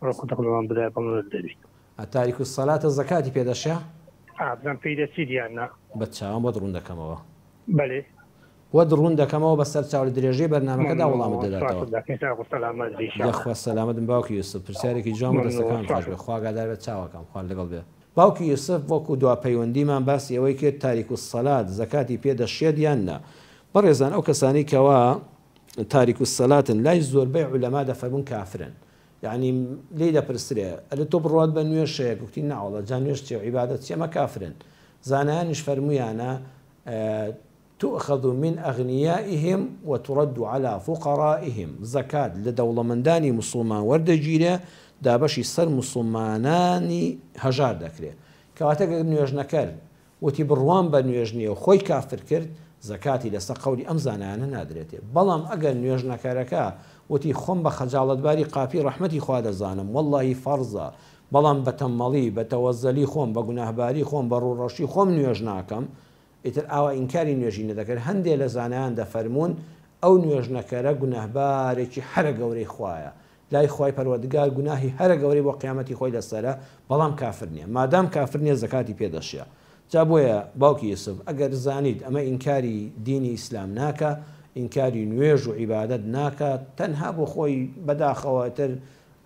ئەوە قوتەق لەوان بدایە بەڵێنت دەبیت. ئە تاریک الصلاتە زەکاتی پێ دەشێ؟ ئا بزانم پێی دەچیت یان نا. بە چاوان بۆت ڕوون دەکەمەوە. بەلی. بۆت ڕوون دەکەمەوە بە سەر چاو لە درێژەی بەرنامەکەدا وڵامت دەداتەوە. یەخوا سەلامەت بن باوکی یوسف پرسیارێکی جوان بوو دەستەکانت خۆش بێت خوا ئاگادار بێت چاوەکەم خوا لەگەڵ بێت باوکی یوسف وەکو دوا پەیوەندیمان باسی ئەوەی کرد تاریک الصلات زەکاتی پێ دەشێت یان نا بەڕێزان ئەو کەسانەی کەوا تاریک الصلاتن لای زۆربەی عولەما دەفەرمون کافرن یعنی لی دەپرسرێ ئەلێ تۆ بڕوات بە نوێژ هەیە گوتی ناوەڵە جا نوێژ چێ عیبادەت چی ئەمە کافرن زانایانیش فەرمویانە تؤخذ من اغنیائهم وترد على فقرائهم زکات لە دەوڵەمەندانی مسلمان وەردەگیرێ دابەشی سەر مسلمانانی هەژار دەکرێ کەواتە گەر نوێژنەکەر وتی بڕوام بە نوێژ نیە و خۆی کافر کرد، زەکاتی لەسەر قەولی ئەم زانایانە نادرێتێ، بەڵام ئەگەر نوێژنەکەرەکە وتی خۆم بە خەجاڵەتباری قاپی ڕەحمەتی خوا دەزانم وەڵڵاهی فەڕزە بەڵام بە تەمەڵی بە تەوەزەلی خۆم بە گوناهباری خۆم بە ڕووڕەشی خۆم نوێژ ناکەم ئیتر ئاوا ئینکاری نوێژی نەدەکرد هەندێ لە زانایان دەفەرموون ئەو نوێژنەکەرە گوناهبارێکی حەرە گەورەی خوایە لای خوای پەروەردگار گوناهی هەرە گەورەی بۆ قیامەتی خۆی لەسەرە بەڵام کافر نیە مادام کافر نیە زەکاتی پێ دەشێ جا بۆیە باوکی یوسف ئەگەر زانیت ئەمە ئینکاری دینی ئیسلام ناکا ئینکاری نوێژ و عیبادەت ناکا تەنها بۆ خۆی بەداخەوە ئیتر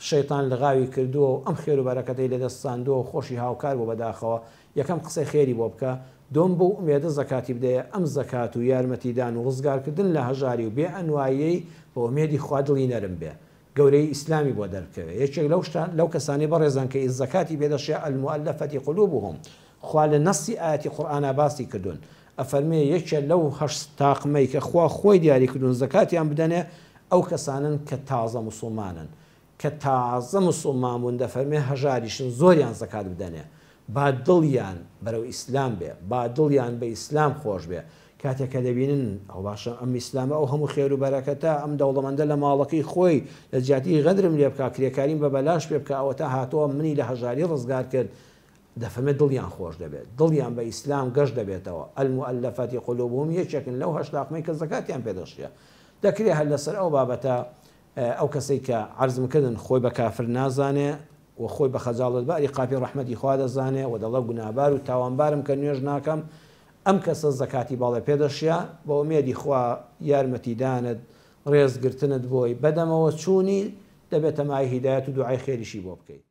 شەیتان لغاوی کردووە و ئەم خێرو بەرەکەتەی لەدەست ساندووە و خۆشی هاوکار بووە بەداخەوە یەکەم قسەی خێری بۆ بکە، دووەم بەو ئومێدە زەکاتی بدەیە، ئەم زەکات و یارمەتیدان و ڕزگارکردن لە هەژاری و بێ ئەنوایەی بە ئومێدی خوا دڵی نەرم بێ گەورەیی ئیسلامی بۆ دەربکەوێ یەکێک لەو شتە لەو کەسانەی بەڕێزان کە ی زەکاتی پێ دەشێ الموالفە قلوبهم خوا لە نەصی ئایەتی قورئانا باسی کردوون ئەفەرمێ یەکێ لەو هەشت تاقمەی کە خوا خۆی دیاری کردوون زەکاتیان بدەنێ ئەو کەسانەن کە تازە موسڵمانن کە تازە موسوڵمان بوون دەفەرمێ هەژاریشن زۆریان زەکات بدەنێ با دڵیان بەرەو ئیسلام بێ با دڵیان بە ئیسلام خۆش بێ کاتێ کە دەبینن ئەوە باشە ئەم ئیسلامە ئەو هەموو خێرو بەرەکەتە ئەم دەوڵەمەندە لە ماڵەکەی خۆی لە جیاتی غەدرم لێ بکا کرێکاریم بە بەلاش پێ بکا ئەوەتا هاتووە منی لە هەژاری ڕزگار کرد دەفەرمێ دڵیان خۆش دەبێت دڵیان بە ئیسلام گەش دەبێتەوە المولفتی قلوبهم یەکێکن لەو هەشت تاقمەی کە زەکاتیان پێ دەشێ دەکرێ هەر لەسەر ئەو بابەتە ئەو کەسەی کە عەرزم کردن خۆی بە کافر نازانێ و خۆی بە خەجاڵەت باری قاپی ڕەحمەتی خوا دەزانێ و دەڵێ گوناهبار و تاوانبارم کە نوێژ ناکەم، ئەم کەسە زەکاتی باڵێ پێ دەشیا بە ئومێدی خوا یارمەتیدانت، ڕێزگرتنت بۆی، بەدەمەوە چوونی، دەبێ تەماعی هیدایەت و دوعای خێریشی بۆ بکەی.